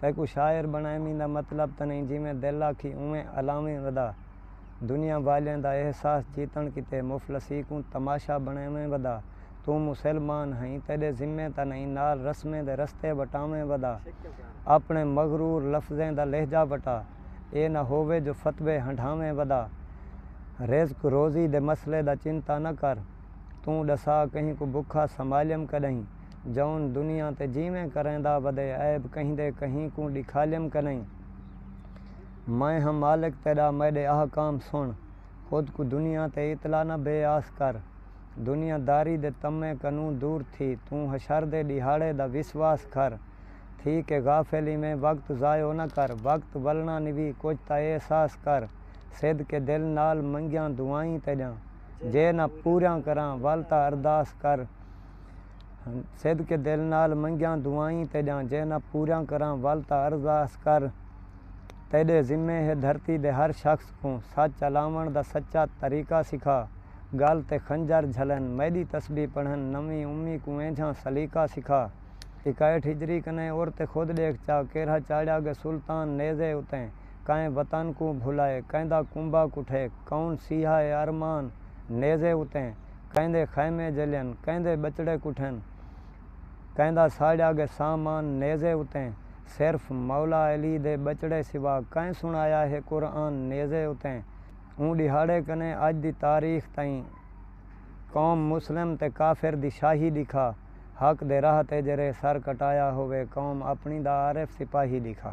تیکوں شاعر بنڑائمیں دا مطلب تاں نئیں جیویں دل آکھی اونویں الاویں ودا۔ دنیا والیاں دا احساس جیتنڑ کیتے مفلسی کوں تماشا بنڑائمیں ودا۔ توں مسل مان ہئیں تیڈے ذمے تاں نئیں نال رسمیں دے رستے وٹاویں ودا۔ اپنڑے مغرور لفظیں دا لہجہ وٹا۔ اے نہ ہووے جو فتوے ہنڈھاویں ودا۔ رزق روزی دے مسلے دا چنتا نہ کر۔ توں ڈسا کہیں کوں بکھا سمالیم کڈہیں۔ جون دنیا تے جیویں کریندا ودے عیب کہیندے کہیں کوں ڈکھالیم کنئیں میں ہاں مالک تیڈا میڈے احکام سن خود کوں دنیا تے اطلاع نہ بے آس کر دنیا داری دے طمع کنوں دور تھی توں حشر دے ڈیہاڑے دا وسواس کھر تھی کہ غافل ایویں وقت ضائع نہ کر وقت ولنا نوی کچھ تاں احساس کر صدقے دل نال منگیاں دعائیں تیڈیاں جے نہ پوریاں کراں ول تاں ارداس کر صدقے دل نال منگیاں دعائیں تیڈاں جے نہ پوریاں کراں ول تاں عرض آس کر تیڈے ذمے ہے دھرتی دے ہر شخص کوں سچ الاونڑ دا سچا طریقہ سکھا گل تے خنجر جھلن میڈی تسبیح پڑھن نویں امی کوں اینجھاں سلیقہ سکھا اکائیٹھ ہجری کنیں اور تے خود ڈیکھ چا کیرھا چاڑھیا گے سلطان نیزے اتیں کائیں وطن کوں بھلائے کیندا کنبہ کٹھے کون سیہا اے ارمان نیزے اتیں کیندے خیمے جلین، کیندے ٻچڑے کٹھن، کیندا ساڑیا گئے سامان نیزے اتے، صرف مولا علی دے ٻچڑے سوا کئیں سݨایا ہے قرآن نیزے اتے، اوں ݙیہاڑے کنیں اڄ دی تاریخ تئیں قوم مسلم تے کافر دی شاہی ݙیکھا، حق دے راہ تے جیرھے سر کٹایا ہووے قوم اپݨی دا عارف سپاہی ݙیکھا۔